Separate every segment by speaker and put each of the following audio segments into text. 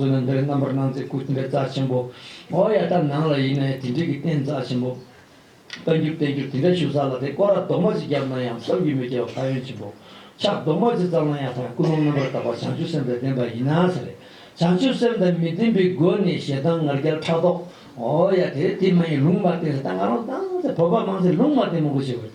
Speaker 1: བསོད་ནམས་འདི་རུ་རྣམ་པར་སྣང་མཛད་སྐུ་ཅི་འདྲའི་རྩ་ཆེན་པོ། ཨོ་ཡ་ད་ནང་ལ་ཡིན་ནའི་དེ་འདྲིས་ཀྱི་རྟེན་རྩ་ཆེན་པོ། བསྟན་འགྱུར་བསྟན་འགྱུར་དེ་འདྲ་ཞུ་ས་ལ་དེ་ཀོ་ར་རྡོག་མ་ཅིག་བརྒྱབ་ན་ཡང་གསབ་རྒྱུ་མེད་ཅེས་པ་ཕ་ཡོན་ཆེན་པོ། ཕྱག་རྡོག་མ་ཅིག་བརྩམས་ན་ཡང་ཐང་སྐུ་ལུང་རྣམ་པར་དག་པ་བྱང་ཆུབ་སེམས་དང་ལྡན་པ་ཡིན་ན་ཟེར་རེད། བྱང་ཆུབ་སེམས་དང་མི་ལྡན་པའི་སྒོ་ནས་ཞེ་སྡང་ངར་སྐྱལ་ཕྲག་དོག། ཨོ་ཡ་དེ་དེ་མ་ཡིན་ལུང་མ་བསྟན་ཟེར་ད་ང་རང་སྡང་ཟེར་བོད་པ་མང་ཚོས་ལུང་མ་བསྟན་མོ་དགོད་བྱེད་དགོས་རེད།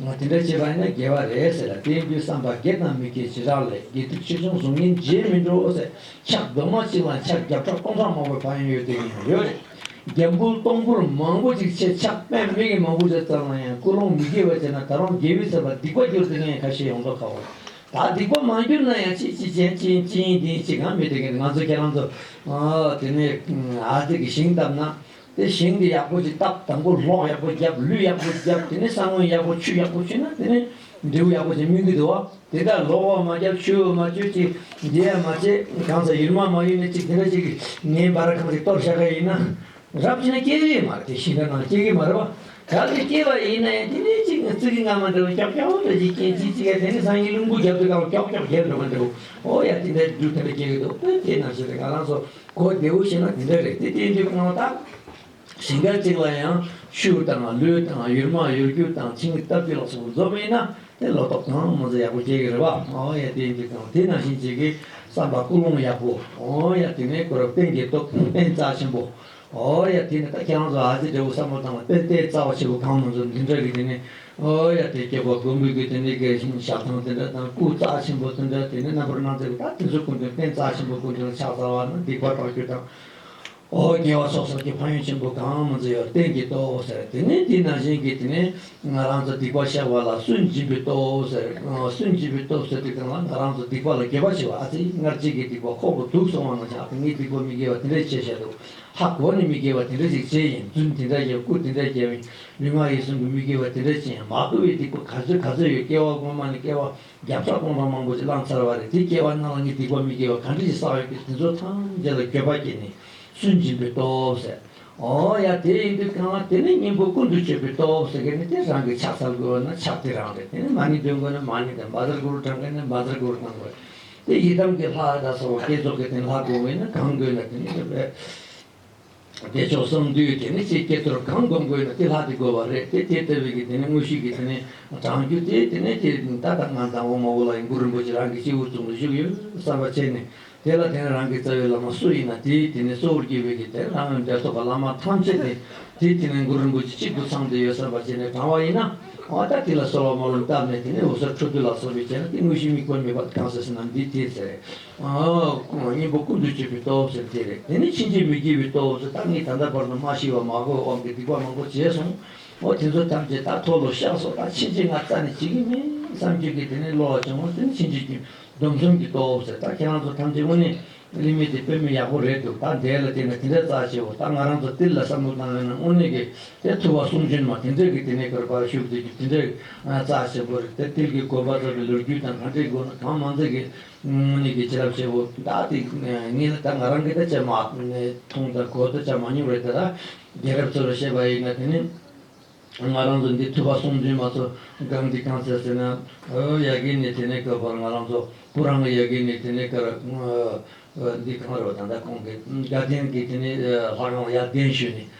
Speaker 1: ངོ་དེ་འདྲ་བྱེད་པ་ནི་དགེ་བ་རེད་ཟེར་ལ་དེའི་རྒྱུ་བསམ་པ་དགེ་དང་མི་དགེ་བྱེ་བྲག་ལས་དགེ་སྡིག་ཆེ་ཆུང་གཟུགས་བརྙན་རྗེས་མི་འགྲོ་ཟེར་ཕྱག་རྡོག་མ་གཅིག་ལ་ཕྱག་རྒྱ་ཕྲག་སྟོང་ཕྲག་མང་པོའི་བག་ཡངས་ཡོད་དུས་ཡང་ཡོད་རེད། རྒྱ་འབུལ་སྟོང་འབུལ་མང་པོ་ཅིག་བྱེད་ཕྱག་དཔེ་མིག་གིས་མ་འབུལ་བྱས་ཙམ་ལ་ཡང་ཀུན་སློང་མི་དགེ་བ་བྱས་ན་ད་རུང་དགེ་བའི་ཟེར་བ་སྡིག་པ་འགྱུར་དུས་ངས་ཁ་ཞེ་ཡོངས་རྫོགས་ཁ་བོ། ད་སྡིག་པ་མ་འགྱུར་ན་ཡང་ཅི་ཅི་ཅན་ཅི་ཡིན་ཅི་ཡིན་འདི་ཡིན་ཅི་གང་མི་དེ་གས་ང་ཚོ་ཁྱེད་རང་ཚོ་དེ་ནས་ཨ་ཙི་གི་ཞིང་བཏབ་ན་དེ་ཞིང་དེ་ཡག་པོ་ཅིག་བཏབ་དང་པོ་ལྷོག་ཡག་པོ་བརྒྱབ་ལུད་ཡག་པོ་བརྒྱབ་དེ་ནས་ས་ངོས་ཡག་པོ་ཆུ་ཡག་པོ་བཅུས་ན་དེ་ནས་འབྲས་བུ་ཡག་པོ་ཅིག་སྨིན་གྱི་འདུག་བ་དེ་དག་ལོག་བར་མ་བརྒྱབ་ཆུ་བོ་མ་བཅུས་ཅིག་འདི་ཡར་མ་བྱས་གང་ཟག་ཡུལ་མ་མ་ཡུལ་ནས་ཅིག་དེ་འདྲ་ཅིག་ངའི་བར་གང་ཅིག་གཏོར་བཤགས་ཀ་ཡིན་ན་རབ་བྱེད་ན་སྐྱེ་བའི་མ་རེད་དེ་ཞིང་ཁ་ནང་སྐྱེ་གི་མ་རེད་བ་གང་གི་སྐྱེ་བ་ཡིན་ན་ཡང་དེ་ནས་ཅིག་རྩི་གི་སྔ་མ་འདྲ་བ་ཀྱོག་ཀྱོག་འདྲ་ཅིག་སྐྱེ་ཅིག་ཅིག་ཡ་དེ་ནས་སང་ཉིན་རླུང་བུ་བརྒྱབ་དུས་གང་བ་ཀྱོག་ཀྱོག་རྒྱབ་འགྲོ་མ་འདྲ་བུ་ཨོ་ཡ་དེ་འདྲ་འགྱུར་དེ་འདྲ་སྐྱེ་གི་འདུག་དེ་ནང་བཞིན་དེ་ང་རང་ཚོ། གོ་བདེ་བོ་བྱས་ན་དེ་འདྲ་རེད་དེ་བསྟན་བཅོས་གནང་སྟངས་གཞན་འགའ་ཅིག་ལ་ཡང་ཤུལ་དང་ལུས་དང་ཡུལ་མ་ཡུལ་རྒྱུ་དང་ཁྱིམ་གྱི་སྟབས་བདེ་ལ་སོགས་པ་འཛོམས་མེད་ན་དེ་ལོ་ཏོག་དང་མོ་རྫས་ཡག་པོ་སྐྱེ་གི་རེད་བ་སྨྲ་བ་ཡ་བསྟན་བཅོས་དང་དེ་ནང་བཞིན་བྱེད་ཀི་བསམ་པ་ཀུན་སློང་ཡག་པོ་ཨོ་ཡ་དེ་ནས་གོ་རབ་བསྟན་གྱི་སྟོབས་དཔེ་རྩ་ཆེན་པོ་ཨོ་ཡ་དེ་ནས་ད་ཁྱེད་རང་ཚོ་ཨ་ཙི་འདྲེ་བོ་བསམ་བློ་བཏང་བ་དཔེ་ལྟའི་རྩ་བ་ཆེན་པོ་གང་མང་ཚོ་འདི་འདྲ་གི་དེ་ནས་ཨོ་ཡ་དེ་སྐྱེ་བོ་ཀུན་འབུལ་གྱི་དེ་ནི་རྒས་ཤིང་ཞག་གྲངས་དེ་འདྲ་དང་སྐུ་རྩ་ཆེན་པོ་དེ་འདྲ་དེ་ནི་རྣམ་པར་སྣང་མཛད་པའི་ད་དེ་ཚོ་ཀུན་དུ་བསྟན་རྩ་ཆེན་པོ་ཀུན་དུ་ཕྱག་རྩ་བ་ན་སྡིག་པ་དྲག་རྒྱུ་དང། ཨོ་རྒྱལ་བ་སོགས་སོགས་ཀྱི་ཕ་ཡུལ་ཆེན་པོ་གང་མི་མཛེས་ཡོད་བསྟན་གྱི་ལྟོ་ཟེར་དེ་ནི་དེས་ན་གཞན་གྱིས་དེ་ནི་ང་རང་ཚོ་སྡིག་པ་བཤགས་པ་ལ་སུན་འབྱིན་པའི་ལྟོ་ཟེར་སུན་འབྱིན་པའི་ལྟོ་ཟེར་དྲི་གང་ལ་ང་རང་ཚོ་སྡིག་པ་ལ་དགེ་བ་བྱས་བ་ཨ་ཙི་སྔར་རྗེས་ཀྱི་སྡིག་པ་ཁོག་ཏུ་དུག་སོང་བ་ན་ཆགས་ཏེ་ངས་སྡིག་པ་མི་དགེ་བ་དེ་འདྲ་བྱས་བྱས་འདུག་ཧ་གོ་ནས་མི་དགེ་བ་དེ་འདྲ་ཞིག་བྱས་ཡིན་རྫུན་དེ་འདྲ་བརྒྱབ་སྐུ་དེ་འདྲ་བརྒྱབ་ཡིན། མི་དམངས་ཡིད་སེམས་ཀྱི་མི་དགེ་བ་དེ་འདྲ་ཅན་མ་གོ་བའི་སྡིག་པ་ག་ཚོད་ག་ཚོད་ཡོད་སྐྱེ་བ་གོང་མ་ནས་སྐྱེ་བ་བརྒྱ་ཕྲག་སྟོང་ཕྲག་མང་པོ་ཅིག་བླངས་ཚར་བ་རེད་དེ་སྐྱེ་བ་རྣམས་ལ་ནི་སྡིག་པ་མི་དགེ་བ་ག་འདྲ་ཅིག་བསགས་ཡོད་ཀྱི་དེ་ཚོ་ཐམས་ཅད་ལ་འགྱོད་པ་སྐྱེས་ནས་སུན་འབྱིན་པའི་སྟོབས་ཟད། ཨོ་ཡ་དེ་ཡིན་དུས་གང་ལ་དེ་ནི་སྙིང་པོ་ཀུན་ཏུ་སྤྱོད་པའི་སྟོབས་ཟེར་མཁན་ནི་དེ་རང་གིས་ཕྱག་འཚལ་དགོས་བ་ན་ཕྱག་དེ་རང་རེད་དེ་ནི་མ་ནི་འདོན་དགོས་ན་མ་ནི་དང་མ་དར་དགོས་རུ་བགྲང་མཁན་ནི་མ་དར་དགོས་རུ་གཏང་དགོས། དེ་ཡི་དམ་གྱི་ལྷ་དང་ས་བོ་བསྐྱེད་རྫོགས་ཀྱི་དེ་ལྷ་དགོས་ངེས་ན་གང་དགོས་ན་དེ་ནི་དེ་བས། བདེ་མཆོག་གསང་འདུས་དེ་ནི་ཆེས་སྐྱེ་ཚོར་གང་བསྒོམ་དགོས་ན་དེ་ལྷག་ཅིག་དགོས་པ་རེད་དེ་དེ་ལྟ་བུའི་གི་དེ་ནི་དངོས་གཞི་གི་དེ་ནི་བགྲང་རྒྱུ་དེ་དེ་ནི་དེ་ད་ལྟ་ང་དང་འོག་མ་འོག་ལ་ཡི་འགུ་རིན་པོ་ཆེ་རང་གི་སྤྱི་བོའི་གཙུག་ན་བཞུགས་ཡོད་བསམ་པ་བྱས་ནས་དེ་ལ་དེ་ནི་རང་གི་རྩ་བའི་བླ་མ་སུ་ཡིན་ན་དེ་དེ་ནི་གཙོ་བོར་བགྱི་བའི་གི་དེ་རང་འོད་འདྲེ་སོགས་པ་བླ་མ་ཐམས་ཅད་དེ་དེ་དེ་ནི་འགུ་རིན་པོ་ཆེ་གཅིག་ཏུ་ཚང་འདི་ཡོད་བསམ་པ་བྱས་ནས་བགྲང་བ་ཡིན་ན་འོ་ད་དེ་ལ་གསོལ་བ་མ་ལོན་བཏབ་ནས་དེ་ནི་འོད་ཟེར་འཕྲོ་འདུ་ལ་སོགས་པས་བྱས་ན་དེ་དངོས་གཞི་དམིགས་པ་མེད་པར་གང་ཟེར་ཟེར་ན་འདི་དེ་ཟེར། གཉེན་པོ་ཀུན་ཏུ་སྤྱོད་པའི་སྟོབས་ཟེར་བ་དེ་རེད། དེ་ནི་ཕྱིན་ཅི་མི་སྐྱེ་བའི་སྟོབས་སུ་ད་ངས་ད་ལྟ་བར་དུ་མ་ཤི་བ་མ་གོ་བའི་དབང་གིས་སྡིག་པ་མང་པོ་བྱས་སོང་ངོ། དེ་ཚོ་ཐམས་ཅད་ད་ཐོ་ལོ་ཤག་སོགས་ད་ཕྱིན་ཅི་ང་རྩ་ནས་བྱེད་ཀྱི་མིན་བསམ་གྱི་གི་དེ་ནི་བློ་ལ་བྱུང་ངོ་དེ་ནི་ཕྱིན་ཅི་གྱི་སྡོམ་གསུམ་གྱི་སྟོབས་ཟེར་ད་ཁྱེད་རང་ཚོ་ཐམས་ཅད་དངོས་གནས་གླིང་མི་དེ་དཔོན་མི་ཡག་པོ་རེད་འདུག་ད་འདས་ལ་དེ་ནི་དེ་འདྲ་རྩ་ཆེའོ་ད་ང་རང་ཚོ་ཏིལ་ལ་བསམ་བློ་བཏང་ཡོང་ན་དངོས་གནས་གི་དེ་ཐུ་བ་གསུང་འབྱོན་མ་དེ་འདྲས་གི་དེ་ནས་གར་བར་ཞུགས་དེ་གི་དེ་འདྲས་རྩ་ཆེན་པོ་རེད་དེ་ཏིལ་གི་དགོན་པ་རྩ་བའི་ལོ་རྒྱུས་དང་གང་འདྲས་དགོས་ན་གང་མང་མཛད་གི། སྔོན་ནས་ཀྱི་བྱིན་རླབས་ཆེན་པོ་དག་དེ་ངེད་ལ་ད་ང་རང་གིས་ད་བྱས་མ་མཐོང་དང་གོ་ད་བྱ་མ་མྱོང་བས་ད་རྒན་རབས་ཚོར་བཤད་པ་ཡིན་ང་དེ་ནས་ང་རང་ཚོ་འདི་ཐུབ་པ་སོང་དུས་མ་ཚོ་སྒང་འདི་གང་ཟེར་ཟེར་ན་ཡ་གི་ནི་དེ་ནས་ཀ་བར་ང་རང་ཚོ་སྤུ་རང་གི་ཡ་གི་ནི་དེ་ནས་ཀར་འདི་གང་རེད་བ་ད་ད་ཁོང་གི་དགའ་ལྡན་གི་དེ་ནས་ལྷ་ཁང་ལ་ཡར་གདན་ཞུས་ནས་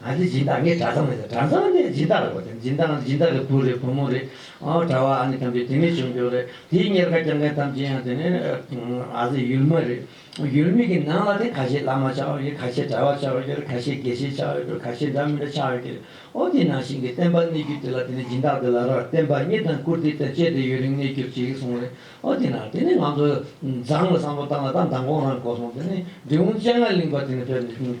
Speaker 1: ང་ཚོའི་སྦྱིན་བདག་ངའི་གྲྭ་ཚང་མེད་ཟེར་གྲྭ་ཚང་ནི་སྦྱིན་བདག་རེད་བསྒོ་སྦྱིན་བདག་སྦྱིན་བདག་གི་བུ་རེད་བུ་མོ་རེད་ཨོ་གྲྭ་བ་ཨ་ནི་ཁམས་པའི་དེ་མིན་ཆོས་འབྱོར་རེད་དེའི་གཉེར་ཁ་རྐྱང་མཁན་ཐམས་ཅད་ཡང་དེ་ནི་ཨ་ཟེར་ཡུལ་མི་རེད་ཡུལ་མི་གི་ནང་ལ་དེ་ཁ་ཤས་བླ་མ་ཆགས་ཡོད་ཀྱི་ཁ་ཤས་གྲྭ་བ་ཆགས་ཡོད་ཀྱི་རེད་ཁ་ཤས་དགེ་བཤེས་ཆགས་ཡོད་ཀྱི་རེད་ཁ་ཤས་འདྲ་མི་འདྲ་ཆགས་ཡོད་ཀྱི་རེད་ཨོ་དེའི་ནང་བཞིན་གྱི་བསྟན་པ་གནས་རྒྱུ་དེ་ལ་དེ་ནི་སྦྱིན་བདག་དེ་ལ་ར་བསྟན་པ་གཉིས་དང་བཀུར་སྟི་དེ་བཅས་དེ་ཡུན་རིང་གནས་རྒྱུར་བྱེད་ཀྱི་སོང་རེད་ཨོ་དེ་ནང་དེ་ནི་ང་ཚོ་བཟང་ལ་བཟང་པོ་བཏང་ལ་ད་མདང་དགོང་རང་གོ་སོང་དེ་ནི་འབྲི་གུང་སྤྱན་སྔར་གླིང་པ་དེ་ནི་ཕེབས་ནས་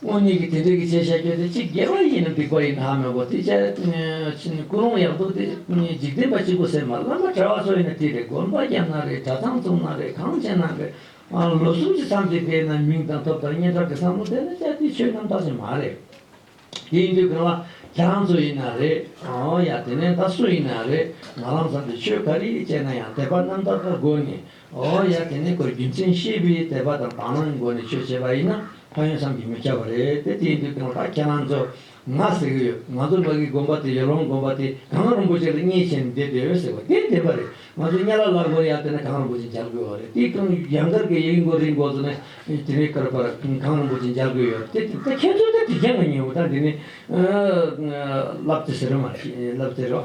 Speaker 1: སྔོན་ཉིད་ཀྱི་དེ་འདྲའི་གི་བྱེད་བྱ་རྒྱུ་དེ་ཅི་དགེ་བ་ཡིན་ནམ་སྡིག་པ་ཡིན་ནམ་མོད་ཀོ་དེ་ཅད་ཕྱིན་སྐུ་རུང་ཡག་འདུག་དེ་གཉིས་འཇིག་རྟེན་པ་གཅིག་པུ་ཟེར་མ་བླ་མ་གྲྭ་བ་ཚོ་ཡིན་ན་དེ་རེད་དགོན་པ་རྒྱབ་ན་རེད་གྲྭ་ཚང་བཙུགས་ན་རེད་གངས་ཅན་ན་རེད་ཨང་ལོ་གསུམ་གྱི་མཚམས་ཀྱི་དེ་ན་མིང་དང་ཐོབ་དང་སྙན་གྲགས་ཀྱི་བསམ་བློ་ལྡན་ན་ཅག་དེ་ཆོས་རྣམ་དག་ཅིག་མ་རེད། དེ་ཡིན་དུས་གངས་བ་གྲྭ་ཚོ་ཡིན་ན་རེད་ཨང་ཡ་དེ་ནས་ད་སུ་ཡིན་ན་རེད་ང་རང་ཚང་དེ་ཆོས་ག་རེ་ཡིན་ཅེ་ན་ཡང་དད་པ་རྣམ་དག་ག་དགོས་ནས་ཨོ་ཡ་དེ་ནི་གོས་རྒྱུ་མཚན་ཤེས་པའི་དད་པ་དང་དག་སྣང་གི་སྒོ་ནས་ཆོས་བྱེད་པ་ཡིན་ན་ཕ་ཡོན་བསམ་གྱིས་མི་ཁྱབ་པ་རེད་དེ་དེའི་མདུན་དུ་ང་ད་ཁྱེད་རང་ཚོ་ང་ཟེར་གི་ཡོད་ང་ཚོ་ལ་གི་དགོན་པ་དེ་ཡོ་ལོང་དགོན་པ་དེ་གངས་རིན་པོ་ཆེ་ལ་བརྙས་བྱས་ནས་བསྡད་ཡོད་ཟེར་བ་དེ་བདེན་པ་རེད་ང་ཚོ་གཉའ་ལ་ལ་སྒོར་ཡར་བསྟན་ན་གངས་རིན་པོ་ཆེ་མཇལ་དགོས་བ་རེད་དེའི་སྟེང་ཡང་སྒར་གྱི་ཡིག་མགོ་རིག་མགོ་ཚོ་ནས་དེ་ནས་བསྐུར་པར་གངས་རིན་པོ་ཆེ་མཇལ་དགོས་ཡོད་རེད་དེ་ཁྱེད་ཚོ་ལྟ་དེ་རྒྱ་ང་ཉིན་མོ་ད་དེ་ནས་ལབ་ཙེ་ཟེར་བ་མ་རེད་ལབ་ཙེ་རེད་བ།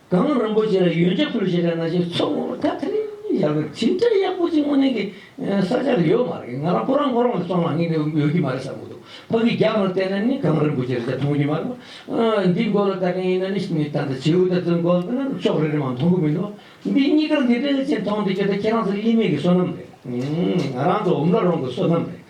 Speaker 1: དགང་བློ་རིན་པོ་ཆེ་ལ་ཡོན་ཆབ་སྲུང་བྱེད་དགའ་ན་ཆེ་མཚོ་སྔོན་པོ་ད་ཐེངས་ཡག་པོ་ཇི་འདྲ་ཡག་པོ་ཅིག་སྔོན་གནས་ཀྱི་ས་ཆ་ལ་ཡོད་མ་རེད་ང་རང་ཁོ་རང་ཁོ་རང་ལ་སོང་ལ་ངས་འདི་ཡོད་ཀྱི་མ་རེད་བསམ་གྱི་འདུག་ཕ་གིའི་རྒྱབ་ལ་བལྟས་ན་ནི་དགང་རིན་པོ་ཆེ་རེད་ཆ་མཐོང་གྱི་མ་རེད་བ། འདི་མགོ་ལ་ལྟ་མཁན་ཡིན་ན་ནི་ནི་ད་ལྟ་བྱེའུ་ལྟར་བཙུན་གོ་ན་ནི་ཅོག་རེ་རེ་མང་མཐོང་གི་མི་འདུག་འདི་གཉིས་ཀར་འདི་འདྲའི་ཆེ་མཐོང་འདི་ཁྱོད་ད་ཁྱེད་རང་ཚོ་གླིང་མེད་ཀྱི་བསོད་ནམས་རེད། ང་རང་ཚོ་འོམ་ལ་རོང་གི་བསོད་ནམས་རེད།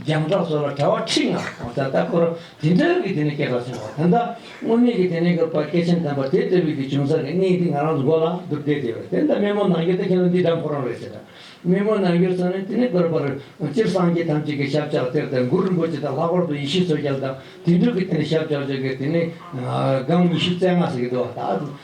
Speaker 1: རྒྱང་གྲགས་སོགས་ལ་དྲ་བ་ཁྲིགས་ལྔ་གང་སར་ལྟ་སྐོར་དེ་འདྲ་གི་དེ་ནས་སྐྱེས་པ་སོང་བ་ད་ལྟ་དངོས་གནས་ཀྱི་དེ་ནས་གུར་པ་སྐྱེས་ཆེན་དམ་པ་དེ་ལྟ་བུའི་དེ་བྱུང་ས་གི་གནས་འདི་ང་རང་ཚོ་མགོ་ལ་འདུག་བསྡད་དེ་བས་དེ་ལྟ་སྨན་མོ་ནང་རྒྱུ་ད་ཁྱེད་རང་འདི་འདྲ་མཁོ་རང་རེད་ཟེར། སྨན་མོ་ནང་རྒྱུར་སོང་ནས་དེ་ནས་གུར་པར་སྤྱིར་སངས་རྒྱས་ཐམས་ཅད་ཀྱི་ཞབས་བཅག་གཏེར་དང་གུར་རིན་པོ་ཆེ་དང་ལྷག་པར་དུ་ཡེ་ཤེས་མཚོ་རྒྱལ་དང་དེ་འདྲུག་གི་དེ་ནས་ཞབས་བཅག་བྱོས་ཀྱི་དེ་ནས་སྒང་ཉི་ཤུ་རྩེ་ལྔ་ཟེར་གྱི་འདུག་བ་ད་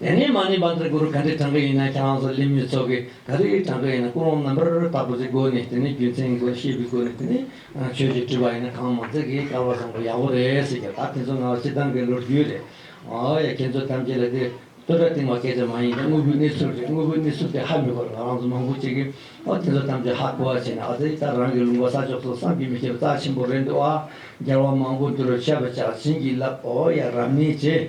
Speaker 1: དེ་ནས་མ་ནི་བར་དུ་གུ་རུ་ག་འདྲའི་གྲངས་ཀ་ཡིན་ན་ཁྱེད་རང་ཚོ་ལས་མི་ཚོ་གི་ག་རེའི་གྲངས་ཀ་ཡིན་ན་ཀུན་སློང་རྣམ་པར་དག་པོ་ཚོའི་སྒོ་ནས་དེ་ནས་རྒྱུ་མཚན་གྱི་སྒོ་ནས་ཤེས་པའི་སྒོ་ནས་དེ་ནས་ཆོས་ཞིག་བྲིས་པ་ཡིན་ན་གང་མང་ཚོས་གིས་དགའ་བར་བཟང་པོ་ཡག་པོ་རེད་ཟེར་གྱི་ད་དེ་ཚོ་ང་བསྟི་སྟང་གི་ལོ་རྒྱུས་རེད། ཨོ་ཡ་ཁྱེད་ཚོ་ཐམས་ཅད་ལ་དེ་སྟོད་སྒྲ་གཏིང་བ་སྐད་ཆ་མ་ཡིན་ཏེ་དངོས་པོའི་གནས་ཚུལ་རེད་དངོས་པོའི་གནས་ཚུལ་དེ་ཧ་མི་གོ་རེད་ང་རང་ཚོ་མང་པོ་ཅིག་གིས་ཨོ་དེ་ཚོ་ཐམས་ཅད་ཧ་གོ་བ་བྱས་ནས་ཨ་ཙི་ད་རང་གི་ལུང་པ་ས་ཕྱོགས་སུ་བསམ་གྱིས་མི་ཁྱབ་རྩ་ཆེན་པོ་རེད་འདུག་ཨ། རྒྱལ་བ་མང་པོ་འདི་རུ་ཆས་པ་ཇག་བྱིན་གྱིས་བརླབས་ཨོ་ཡ་རབ་གནས་བྱས།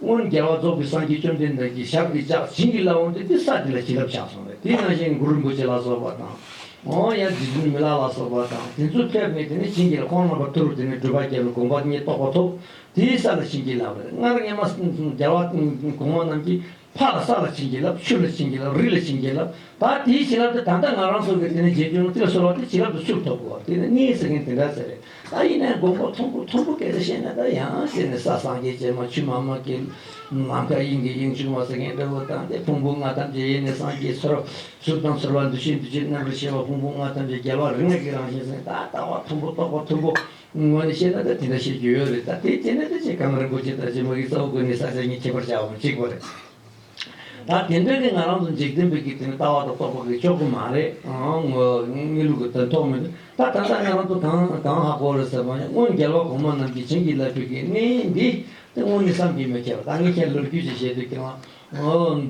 Speaker 1: སྔོན་རྒྱལ་བ་རྫོགས་པའི་སངས་རྒྱས་བཅོམ་ལྡན་འདས་ཀྱིས་ཞབས་ཀྱིས་བཅགས་བྱིན་གྱིས་བརླབས་འོངས་ཏེ་འདི་ས་འདི་ལ་བྱིན་རླབས་བྱ་གསུངས་པས་དེ་ནང་བཞིན་གུ་རུ་འབུལ་བྱེད་ལ་སོགས་པ་དང། འོ་ཡ་རྗེ་བཙུན་མི་ལ་ལ་སོགས་པ་དང་དེ་ཚོས་ཕེབས་ནས་དེ་ནས་བྱིན་གྱིས་རླབས་ཁོང་རྣམ་པར་ཐུགས་རུ་དེ་ནས་སྦྲུལ་པ་རྒྱལ་བའི་དགོངས་པ་ཉིད་རྟོགས་པ་ཐོབ། དེའི་ས་ལ་བྱིན་གྱིས་བརླབས་པས་སྔར་སྔས་མ་རྒྱལ་བ་གོང་མ་རྣམས་ཀྱིས་ཕག་ལ་ས་ལ་བྱིན་གྱིས་བརླབས་ཆུ་ལ་བྱིན་གྱིས་བརླབས་རི་ལ་བྱིན་གྱིས་བརླབས་ད་དེའི་བྱིན་རླབས་དེ་ད་ལྟ་ང་རང་སོགས་ཀྱིས་དེ་ནས་རྗེ་བཙུན་མོ་དེ་ལ་གསོལ་བ་དེ་བྱིན་རླབས་དུ་ཕྱུག་ཐོབ་བོ་དེ་ནས་གནས་ས་མཁན་དེ་འདྲ་ཟེར་བས་ད་ཡིན་ནའི་མགོན་པོ་མཐོན་པོ་མཐོན་པོ་སྐད་ཆ་བཤད་ན་ད་ཡང་ཟེར་ནས་ས་སངས་རྒྱས་བྱེ་མ་ཆུ་མ་མ་ཀི་ལུང་ནམ་མཁའ་དབྱིངས་ཀྱི་དབྱིངས་ཕྱུག་མ་ཟེར་མཁན་འདྲ་བོ་དང་དེ་ཕུང་པོ་ལྔ་ཐམས་ཅད་ཡེ་ནས་སངས་རྒྱས་ཚོར་བ་གཟུགས་དང་ཚོར་བ་འདུ་ཤེས་འདུ་བྱེད་རྣམ་པར་ཤེས་པ་ཕུང་པོ་ལྔ་ཐམས་ཅད་རྒྱལ་བ་རིགས་ལྔ་ཀྱི་རང་བཞིན་ཟེར་ད་ལྟ་བ་མཐོན་པོ་རྟོགས་པ་མཐོན་པོ་ངོ་ནས་བཤད་ན་ད་དེ་འདྲ་བཤད་རྒྱུ་ཡོད་རེད་ད་དེ་བྱས་ནས་ད་ཅེ་གང་རིན་པོ་ཆེ་ད་ཅེ་མ་གིས་རྩ་བ་བཀོད་ནས་ས་ཆ་གཉིས་ཁྱད་པར་ཆགས་པ་མི་གཅིག་པ་རེད། ད་དེ་འདྲ་ནི་ང་རང་ཚོ་འཇིག་རྟེན་པའི་དགེ་ཚན་ལྟ་བ་དང་རྟོགས་པ་གི་ཕྱོགས་གུ་མ་རེད། དངོས་ལུགས་ཀྱི་དོན་རྟོགས་མི་འདུག་ད་ད་ལྟ་ང་རང་ཚོ་གང་གང་ཧ་གོ་རེད་ཟེར་བ་ནི་སྔོན་རྒྱལ་བ་གོང་མ་རྣམས་ཀྱིས་བྱིན་གྱིས་བརླབས་པའི་དགེ་བསྙེན་ཡིན་འདི་དེ་དངོས་ནི་བསམ་གྱིས་མི་ཁྱབ་ད་ངས་ཁྱེད་ལོ་རྒྱུས་ཅིག་བཤད་དུས་ཁྱེད་རང་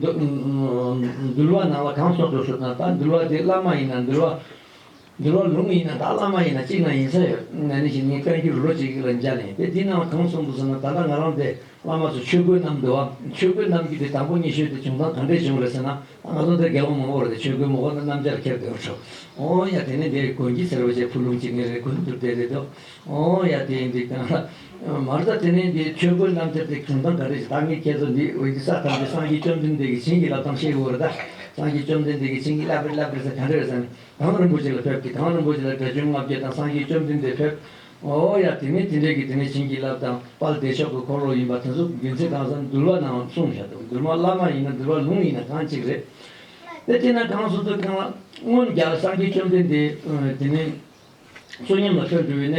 Speaker 1: འདུལ་བ་ནང་ལ་གང་སོགས་སྒྲོ་བཤུ་དང་ད་འདུལ་བ་དེ་བླ་མ་ཡིན་ན་འདུལ་བ། འདི་ལོ་ལུང་ཡིན་ན་དང་བླ་མ་ཡིན་ན་གཅིག་ན་ཡིན་ས་ཡོད། ང་ནི་ཞིང་ཉིན་བཀའ་འགྱུར་ལོ་གཅིག་ལ་མཇལ་ནས་དེ་འདི་སྣང་བ་གང་གསུངས་འདུག་ཟེར་ན་ད་ལྟ་ང་རང་དེ་བླ་མ་ཚོ་ཆོས་གོས་རྣམས་འདུལ་བ་ཆོས་གོས་རྣམས་ཀྱི་དེ་དང་པོ་གཉིས་ཤོས་དེ་བྱུང་སྟངས་གང་འདྲས་བྱུང་རེད་ཟེར་ན་ང་ཚོ་འདིར་རྒྱལ་པོ་མང་པོ་རེད་དེ་ཆོས་གོས་མོ་གོ་ན་སྣམ་སྦྱར་ཁྱེར་འདོད་འཕྲོ། ཨོ་ཡ་དེ་ནི་འདི་དགོན་གྱི་ཟེར་བ་བཅས་ཕུ་ལུང་གཅིག་ངེད་རེ་དགོན་དུ་བསྡད་རེད་འདུག་ཨོ་ཡ་དེ་འདི་གང་ལ། མར་ད་དེ་ནི་འདི་ཆོས་གོས་རྣམ་སྦྱར་དེ་བྱུང་སྟངས་ག་རེ་བྱེད་ད་ངས་ཁྱེད་ཚོ་འདི་འོན་ཀྱི་ས་ཐམས་ཅད་སངས་རྒྱས་བཅོམ་ལྡན་འདས་ཀྱི་བྱིན་གྱིས་བརླབས་སྟངས་ཤེས་དགོས་རེད་ད། སངས་རྒྱས་བཅོམ་ལྡན་འདས་ཀྱི་བྱིན་གྱིས་བརླབས་རེད་བརླབས་རེད་ཟེར་ག་འདྲས་རེད་ཟེར་ན། དྭང་རིན་པོ་ཆེ་ལ་ཕེབས་ཀྱིས་དྭང་རིན་པོ་ཆེ་ལ་དགྲ་བཅོམ་ལྔ་བརྒྱ་དང་སངས་རྒྱས་བཅོམ་ལྡན་འདས་ཕེབས། ཨོ་ཡ་དེ་ནས་དེ་འདྲས་ཀྱིས་དེ་ནས་བྱིན་གྱིས་བརླབས་དང་དཔལ་བདེ་མཆོག་གི་འཁོར་ལོ་ཡིན་པ་དེ་ཚོ་རྒྱུན་ཚིག་གང་ཟག་འདུལ་བ་ནའང་གསུངས་བཞག་འདུག་འདུལ་མ་བླ་མ་ཡིན་ན་འདུལ་བ་ལུང་ཡིན་ན་གང་གཅིག་རེད། དེ་དེ་ན་གང་སོ་སོའི་ཁང་ལ། སྔོན་རྒྱལ་སངས་རྒྱས་བཅོམ་ལྡན་འདས་དེ་ནས་བསོད་སྙོམས་ལ་ཕེབས་འགྲོ་བའི་གནས།